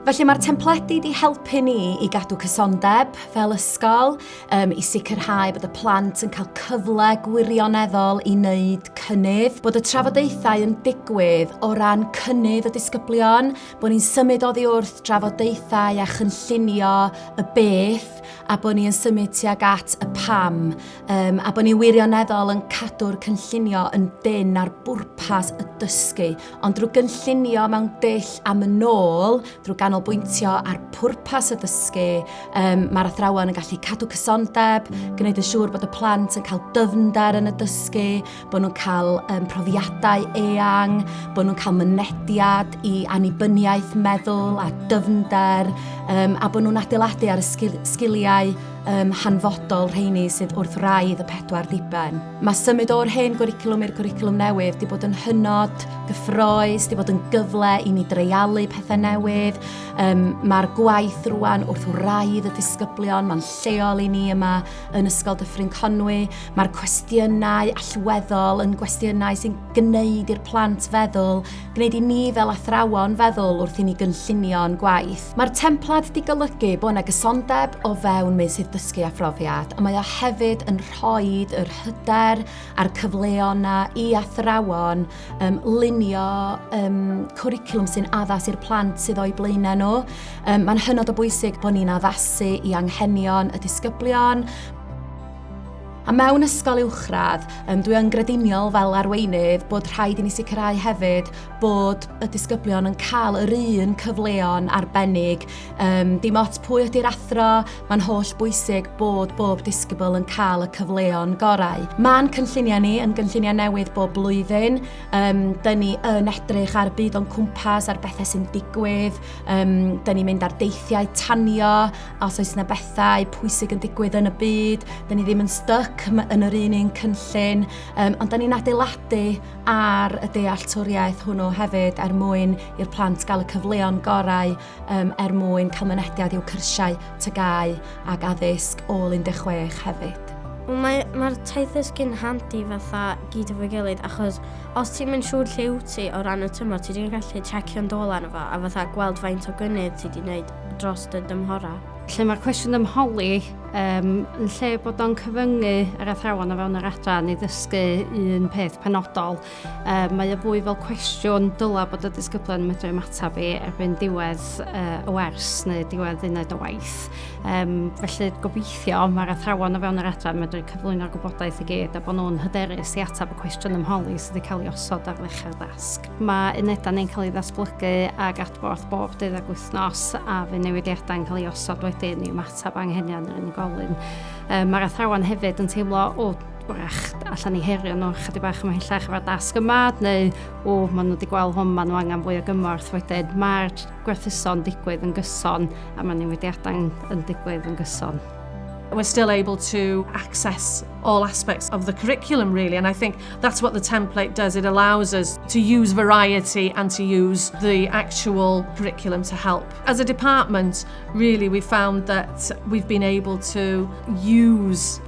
Felly mae'r templedi di helpu ni i gadw cysondeb fel ysgol, um, i sicrhau bod y plant yn cael cyfle gwirioneddol i wneud cynnydd, bod y trafodaethau yn digwydd o ran cynnydd y disgyblion, bod ni'n symud oddi wrth drafodaethau a chynllunio y beth a bod ni'n symud tuag at y pam. Um, a bod ni wirioneddol yn cadw'r cynllunio yn dyn ar bwrpas y dysgu, ond drwy gynllunio mewn dull am yn ôl, drwy ganolbwyntio ar pwrpas y dysgu, um, mae'r athrawon yn gallu cadw cysondeb, gwneud yn siŵr bod y plant yn cael dyfnder yn y dysgu, bod nhw'n cael um, profiadau eang, bod nhw'n cael mynediad i annibyniaeth meddwl a dyfnder, um, a bod nhw'n adeiladu ar y sgil sgiliau um, hanfodol rheini sydd wrth raidd y pedwar diben. Mae symud o'r hen gwricwlwm i'r gwricwlwm newydd wedi bod yn hynod gyffroes, wedi bod yn gyfle i ni dreialu pethau newydd. Um, Mae'r gwaith rwan wrth wraidd y disgyblion, mae'n lleol i ni yma yn Ysgol Dyffryn Conwy. Mae'r cwestiynau allweddol yn gwestiynau sy'n gwneud i'r plant feddwl, gwneud i ni fel athrawon feddwl wrth i ni gynllunio'n gwaith. Mae'r templad di golygu bod yna gysondeb o fewn meysydd dysgu a phrofiad, ond mae o hefyd yn rhoi yr hyder a'r cyfleon yna i athrawon um, lunio um, cwricwlwm sy'n addas i'r plant sydd o'i blaenau nhw. Um, Mae'n hynod o bwysig bod ni'n addasu i anghenion y disgyblion, A mewn ysgol uwchradd, um, dwi yn grediniol fel arweinydd bod rhaid i ni sicrhau hefyd bod y disgyblion yn cael yr un cyfleon arbennig. Um, dim ots pwy ydy'r athro, Mae'n holl bwysig bod bob disgybl yn cael y cyfleon gorau. Mae'n cynlluniau ni yn gynlluniau newydd bob blwyddyn. Um, Dyna ni yn edrych ar byd o'n cwmpas, ar bethau sy'n digwydd. Um, Dyna ni'n mynd ar deithiau tanio, os oes yna bethau pwysig yn digwydd yn y byd. Dyna ni ddim yn styc yn yr un un cynllun, um, ond dyna ni'n adeiladu ar y dealltwriaeth hwnnw hefyd er mwyn i'r plant gael y cyfleon gorau um, er mwyn cael mynediad i'w cyrsiau, tygau ac addysg ôl 16 hefyd. Mae'r mae taith ysgu'n handi fatha gyd efo'i gilydd achos os ti'n mynd siŵr lle wyt ti o ran y tymor, ti wedi'n gallu checio'n dôl arno fo a fatha gweld faint o gynnydd ti wedi gwneud dros dy dymhorau. Lle mae'r cwestiwn ymholi, um, yn lle bod o'n cyfyngu yr athrawon o fewn yr adran i ddysgu un peth penodol, Yy mae o fwy fel cwestiwn dylai bod y disgyblion yn medru ymateb i erbyn diwedd yy y wers neu diwedd uned o waith. Yym felly gobeithio mae'r athrawon o fewn yr adran yn medru cyflwyno'r gwybodaeth i gyd a bod nhw'n hyderus i ateb y cwestiwn ym holi sydd wedi cael ei osod ar ddechrau'r dasg. Mae unedau neu'n cael ei ddatblygu ag adborth bob deuddag wythnos a fe newidiadau yn cael ei osod wedyn i ymateb anghenion yr unigolyn. Yy mae'r athrawon hefyd yn teimlo o wrach, allan i herio nhw chydig bach ymhellach efo'r dasg yma, neu o, maen nhw wedi gweld hwn, maen nhw angen fwy o gymorth wedyn. Mae'r gwerthuso'n digwydd yn gyson a mae newidiadau yn digwydd yn gyson. We're still able to access all aspects of the curriculum really and I think that's what the template does it allows us to use variety and to use the actual curriculum to help as a department really we found that we've been able to use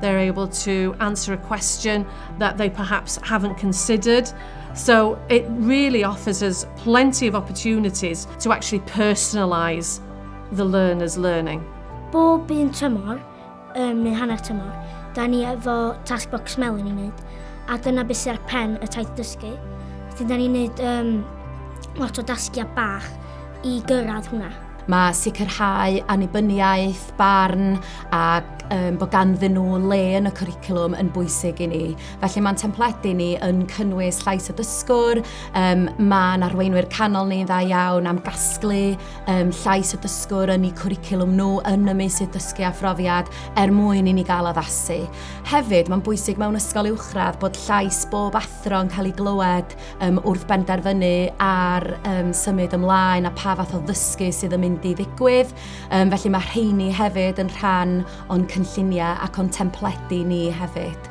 They're able to answer a question that they perhaps haven't considered. So it really offers us plenty of opportunities to actually personalise the learner's learning. Bob un tymor, um, neu hanner tymor, da ni efo task box melon i wneud, a dyna beth sydd ar pen y taith dysgu. Felly da ni'n wneud um, lot o dasgiau bach i gyrraedd hwnna. Mae sicrhau annibyniaeth, barn ac um, bod ganddyn nhw le yn y cwricwlwm yn bwysig i ni. Felly mae'n templedi ni yn cynnwys llais y dysgwr, um, mae'n arweinwyr canol ni'n dda iawn am gasglu um, llais y dysgwr yn eu cwricwlwm nhw yn y meysydd dysgu a phrofiad er mwyn i ni gael addasu. Hefyd, mae'n bwysig mewn ysgol uwchradd bod llais bob athro athro yn cael ei glywed um, wrth benderfynu ar um, symud ymlaen a pa fath o ddysgu sydd yn mynd i ddigwydd. Um, felly mae rheini hefyd yn rhan o'n cynlluniau ac o'n templedi ni hefyd.